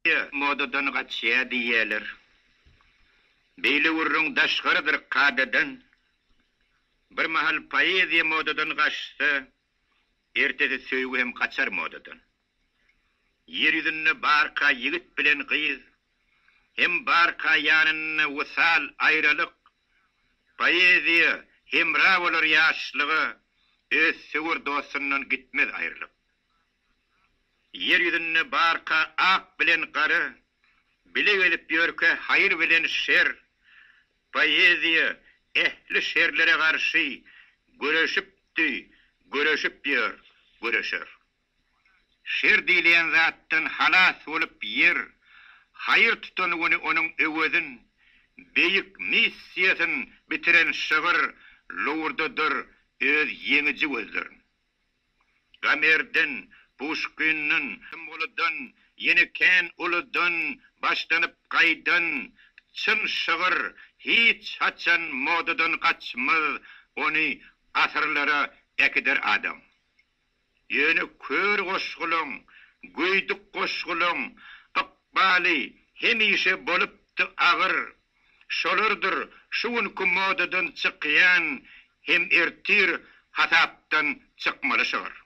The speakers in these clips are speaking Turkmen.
Ýa, modadan gaçýar diýýärler. Beýle gürrüň daşgarydyr kadadan. Bir mahal poeziýa modadan gaçsa, ertesi söýgi hem gaçar modadan. Ýer ýüzünde barka ýigit bilen gyz, hem barka ýanynda wysal, aýralyk. Poeziýa hemra bolar ýaşlyga, öz söwer dostundan gitmez aýrylyp. Ýer ýüzünde barka ak bilen gara bile gezip ýörkä haýyr bilen şer, poeziýa ähli şerlere garşy göreşipdi, göreşip ýör, göreşer. Şer diýilýän zatdan halas bolup ýer haýyr tutan güni onuň öwezin beýik missiýasyn bitiren şygyr lowurdadyr öz ýeňiji gözlerin. Gamerden, Puşkinden, Symgulydan, ýene kän uludan başlanyp gaýdan çyn şygyr hiç haçan modadan gaçmaz, ony asyrlara äkider adam. Ýöne kör goşgulaň, göýdük goşgulaň ykbaly hemişe bolupdy agyr. Şolardyr şu günki modadan çykýan hem ertir hasapdan çykmaly şygyr.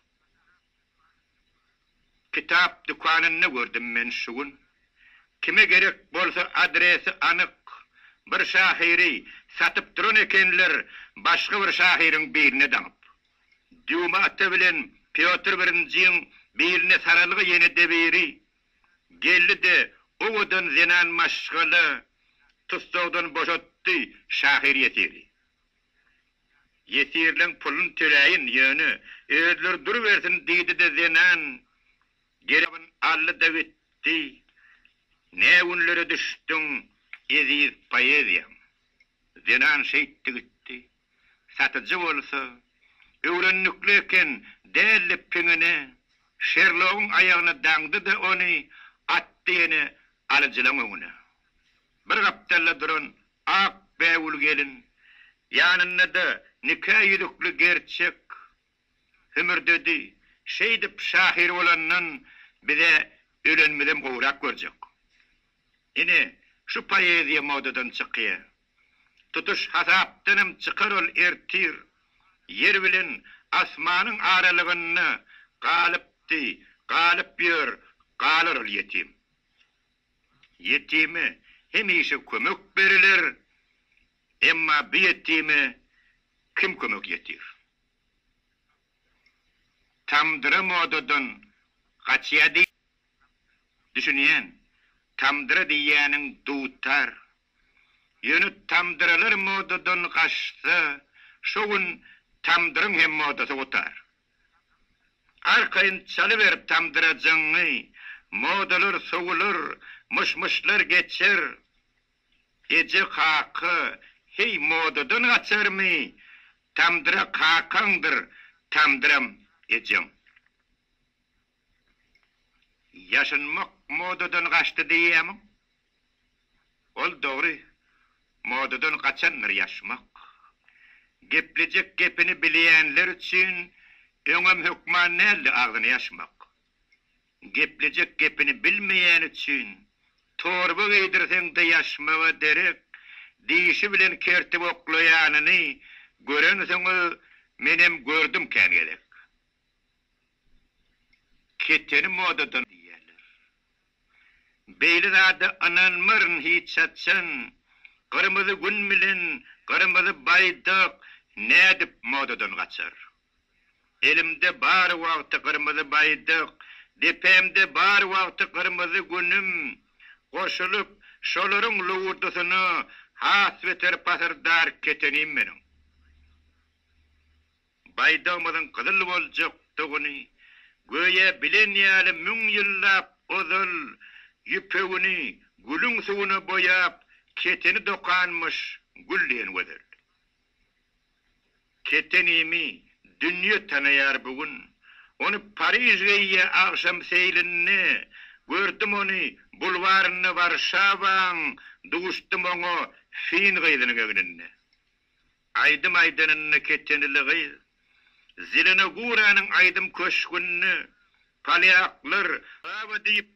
Kitap dükanynda gördüm men şu gün. Kime gerek bolsa adresi anyk bir şahyry satyp duran ekenler başga bir şahyryň biline daňyp. Dýuma ata bilen Pýotr birinjiň biline saralga ýene-de biri. Geldi-de, owadan zenan maşgala tussagdan boşatdy şahyr ýesiri. Ýesirleň puluny töläýin, ýöne, özleri durubersin diýdi-de zenan gerewini aldy-da gitdi. Nä günlere düşdüň, eziz poeziýam! Zenan şeýtdi gitdi. Satyjy bolsa, Öwrendikli eken, däldi piňine, Şerlogyň aýagyna daňdy-da ony atdy ýene alyjylaň öňüne. Bir gapdalda duran ak bägül gelin, ýanynda-da nika ýüzükli gerçek Hümürdedi, Şeýdip, şahyr bolandan bize ölenimizem gowrak görjek. Ine, şu poeziýa modadan çykýa. Tutuş hasapdanam çykar ol ertir. Ýer bilen asmanyň aralygynda galypdy, galyp ýör, galar ol ýetim. Ýetime hemişe kömek beriler, emma bu ýetime kim kömek ýetir? Tamdyra modadan gaçýa diý. Düşünýän. Tamdyra diýýäniň dutar. Ýöne tamdyralar modadan gaçsa, şo gün tamdyryň hem modasy gutar. Arkaýyn çalyber tamdyrajyňy, modalar sowular, myş-myşlar geçer. Eje kaka, heý modadan gaçarmy? Tamdyra kakaňdyr, tamdyram ejeň. Ýaşynmak modadan gaçdy diýýämiň? Ol dogry, modadan gaçandyr ýaşmak. Geplejek gepini bilýänler üçin öňem hökman däldi agzyny ýaşmak. Geplejek gepini bilmeýäni üçin torba geýdirseň-de ýaşmaga derek, dişi bilen kertip oklaýanyny görensoň-a menem gördüm kän gezek. Keteni modadan diýýärler. Beýle zada ynanmaryn hiç haçan, Gyrmyzy Gün bilen Gyrmyzy Baýdak nädip modadan gaçar? Elimde bar wagty gyrmyzy baýdak, depemde bar wagty gyrmyzy günüm goşulyp, şolaryň lowurdasyna has beter pasyrdar ketenim meniň. Baýdagymyzyň gyzyl boljakdygyny göýä bilen ýaly müň ýyllap ozal ýüpegini gülüň suwuna boýap keteni dokanmyş gül diýen gözel. Ketenimi dünýe tanaýar bu gün. Ony Pariž geýýä agşam seýlinde, Gördüm ony bulwarynda Warşawaň, Duşdum oňa fin gyzynyň egninde. Aýdym aýdanynda ketenili gyz, Zelenoguranyň aýdym köşgünde, Polýaklar, Wawa diýip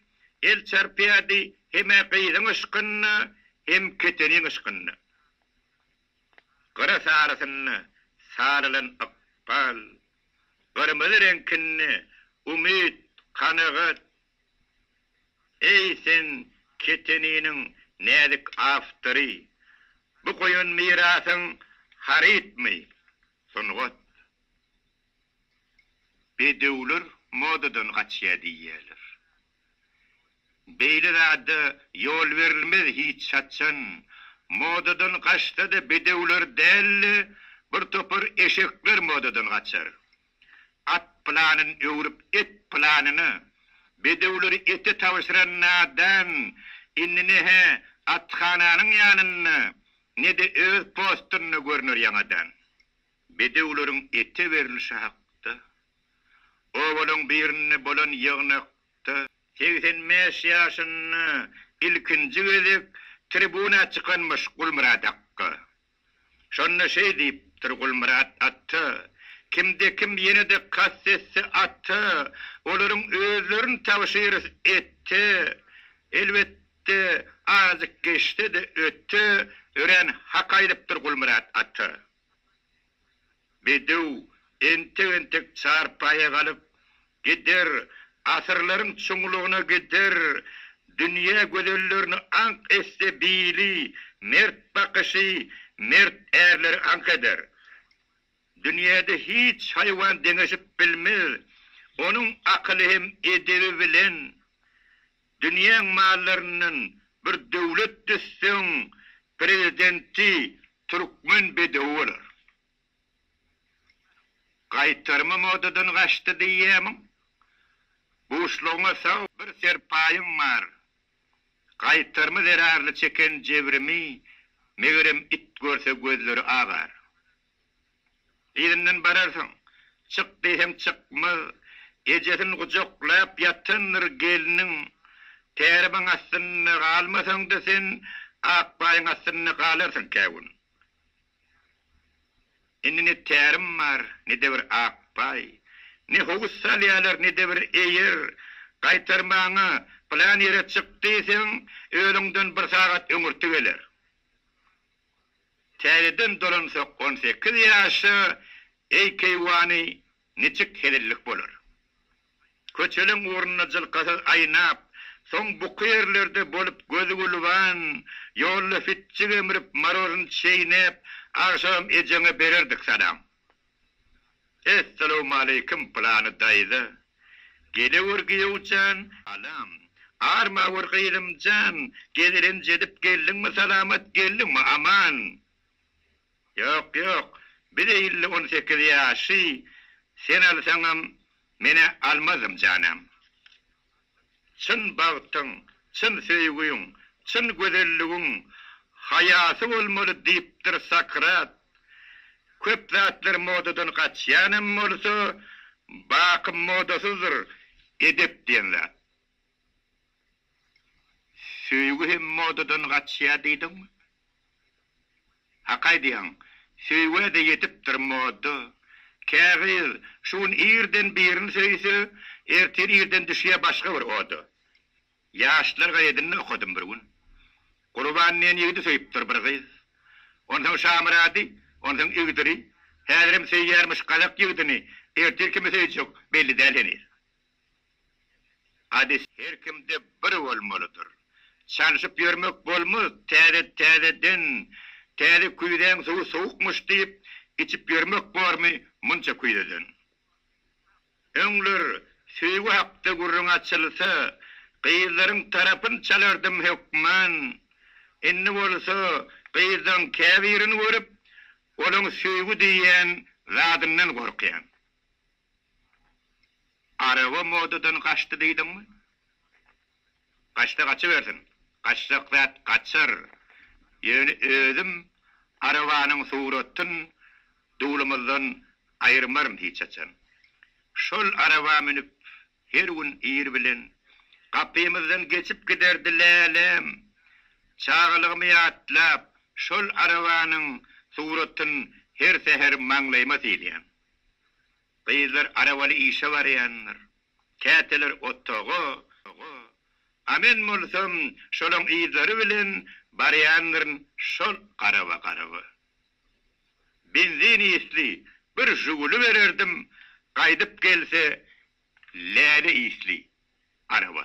el çarpýardy Hem-ä gyzyň yşkynda, Hem keteniň yşkynda. Gyra sarysyny sarylan ykbal, Gyrmyzy reňkini umyt, kanagat. Eý, sen keteniniň näzik awtory, Bu goýan mirasyň harytmy, sungat? Bedewler modadan gaçýar diýýärler. Beýle zada ýol berilmez hiç haçan. Modadan gaçsada bedewler dälde bir topar eşekler modadan gaçar. At planyn öwrüp et planyna. Bedewleri ete tabşyran nadan indi ne-hä athananyň ýanynda ne-de öz postynda görner ýaňadan. Bedewleriň ete berlişi hakda obalaryň birinde bolan ýygnakda, segsen bäş ýaşynda ilkinji gezek tribuna çykanmyş Gulmyrat akga. Şonda şeý diýipdir, Gulmyrat ata, kimde-kim ýene-de kast etse ata, olaryň özlerini tabşyrys ete, elbetde, azajyk geçse-de öte, örän hak aýdypdyr Gulmyrat ata. Bedew entek-entek çarpaýa galyp gider, asyrlaryň çuňlugyna gider, dünýä gözellerini aňk etse bili, mert bakyşy mert ärleri aňk eder. Dünýäde hiç haýwan deňeşip bilmez, onuň akyly hem edebi bilen. Dünýäň mallaryndan bir döwlet düzseň, prezidenti Türkmen bedewi bolar. Gaýtarymy modadan gaçdy diýýämiň? Buşlugyňa sag bir serpaýyň bar. Gaýtarymy zerarly çeken jebrimi megerem it görse gözleri agar. Yzyndan bararsyň. Çyk diýseň çykmaz. Ejesini gujaklap ýatandyr gelniň. Tärimyň astynda galmasaň-da sen, Akbaýyň astynda galarsyň kä gün. Indi ne tärim bar, ne-de bir Akbaý. Ne howuz salýarlar, ne-de bir eýer. Gaýtarmaga, pylan ýere çyk diýseň, özüňden bir sagat öňürti geler. Täzeden dolansak on sekiz ýaşa Eý keýwany niçik hezillik bolar. Köçeleň ugrunda jylkasyz aýnap, soň buky ýerlerde bolup gözi gulban, ýolda fitjik emrip, maroryn çeýnäp, agşamam ejeňe bererdik salam. Essalawmaleýkim Pylany daýza. Gelewür gyýowjan. Salam. Armawür gyzymjan. Gezelenç edip geldiňmi salamat geldiňmi aman. Ýok ýok biz elli on sekiz ýaşy sen alsaňam menä almazym janam. Çyn bagtyň, çyn söýgüň, çyn gözelligiň haýasy bolmaly diýipdir Sokrat. Köp zatlar modadan gaçýan hem bolsa, baky modasyzdyr edep diýen zat. Söýgi hem modadan gaçýar diýdiňmi? Hak aýdýaň, söýgä-de ýetipdir moda. Kägyz şu gün irden birini söýse, ertir irden düşýär başga bir oda. Ýaşlar gazetinde okadym bir gün. Gurban diýen ýigidi söýüpdir bir gyz. Onsoň Şamyrady, onsoň Igdiri, häzirem söýýärmiş gazak ýigidini, ertir kimi söýjek belli däl heniz. Hadys. Her kimde bir bolmalydyr. Çalşyp ýörmek bolmaz, täze, täzeden, täze küýzäň suwy sowukmyş diýip, içip ýörmek bormy munça küýzeden? Öňler söýgi hakda gürrüň açylsa, gyzlaryň tarapyn çalardym hökman, indi bolsa gyzlaryň käbirini görüp, olaň söýgi diýýän zadyndan gorkýan. Araba modadan gaçdy diýdiňmi? Gaçsa gaçybersin. Gaçjak zat gaçar. Ýöne özüm arabanyň suratyn duglumyzdan aýyrmaryn hiç haçan. Şol araba münüp her gün ir bilen gapymyzdan geçip giderdi Lälem. Çagalygymy ýatlap, şol arabanyň suratyn her säher maňlaýyma sylaýan. Gyzlar arabaly işe barýandyr. Käteler otaga, a men bolsam şolaň yzlary bilen barýandyryn şol garaba-garaba. Benzin isli bir Žuguli bererdim, gaýdyp gelse läle isli araba.